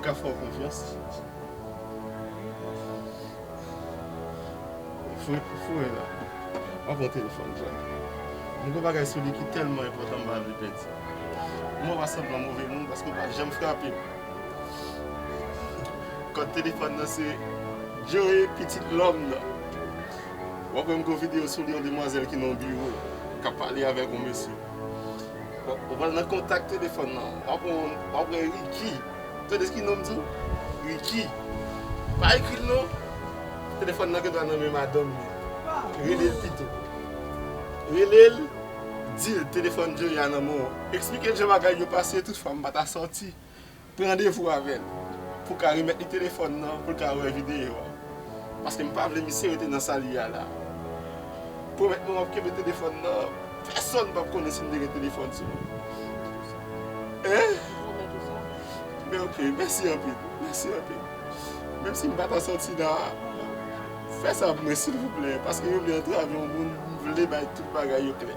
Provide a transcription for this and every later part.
M ka fè w konfyans? Foure pou foure la. M ap pran telefòn m jwenn li. M gen yon bagay sou li ki tèlman enpòtan m pa vle pèdi. M wè w ap sanble move moun paske w pa janm frape m. Kòd telefòn nan se Joe pitit lòm nan. W ap wè m gen yon videyo sou li yon demwazèl ki nan yon biwo k ap pale avèk yon mesye. Ou pral nan kontak telefòn nan. Wap wè yon, wap wè Ricky. Ou tande ki nonm di? Ricky. Pa ekri l non. Telefòn nan gendwa nan men madanm li. Rele l pito. Rele l, di l telefòn Jerry a nan men w. Eksplike l jan bagay yo pase tout fwa m pa ta sòti. Pran randevou avè l pou w ka remèt li telefòn nan pou l ka wè videyo a. Paske m pa vle misye rete nan sa li ye a la. Pwomèt mwen w ap kenbe telefòn nan, pèsòn pap konnen si m te gen telefòn sou mwen. Hein? Men ok, mèsi anpil, mèsi anpil. Menm si m pa ta soti la, fè sa pou mwen silvouplè, paske yo vle antrave yon moun m vle bay tout bagay yo klè.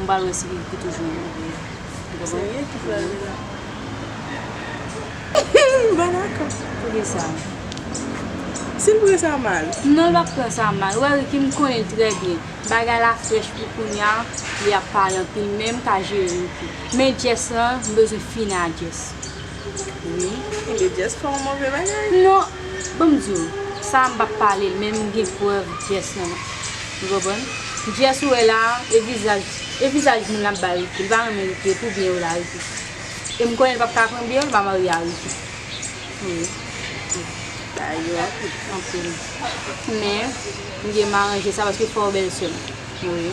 M pral wè si li ki toujou menm ou byen ou konprann? Serye ki fè rele la? M pa dakò. Poukisa? Si l pran sa mal? Non l pap pran sa mal. Ou wè Ricky m konnen l trè byen. Bagay la frèch pou kounya li ap pale anpil men m ka jere Ricky. Men Jess lan m bezwen fini a Jess. Wi kenbe Jess pa yon move bagay. Non banm diw sa m pap palel menm m gen prèv Jess nan menm ou konprann Jess ou wè la e vizaj e vizaj moun lap bay Ricky li pa renmen Ricky e pou byen ou la Ricky e m konnen l pap ka pran byen ou li pa marye a Ricky wi ba yo anpil anpil men m gen m aranje sa paske fè w bèl sèm wi.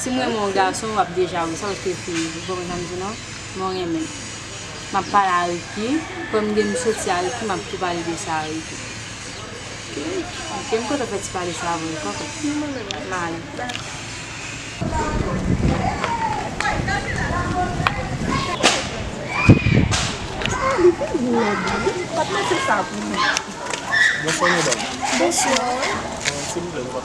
Sim renmen yon gason wap deja wè sa paske fi ou konprann sam di non mwen renmen map pale a Ricky kòm gen m soti a Ricky map tou pale de sa a Ricky ok m kontan fè ti pale sa avèw ok m ale.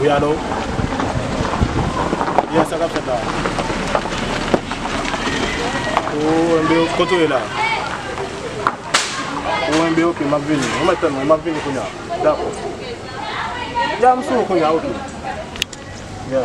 Wi alo Yes sa kap fèt la Ou enbe ok Kote ou ye la Ou enbe ok map vini Ou mèt tann mwen map vini kounya Dakò Ya m sou ou kounya ok Ya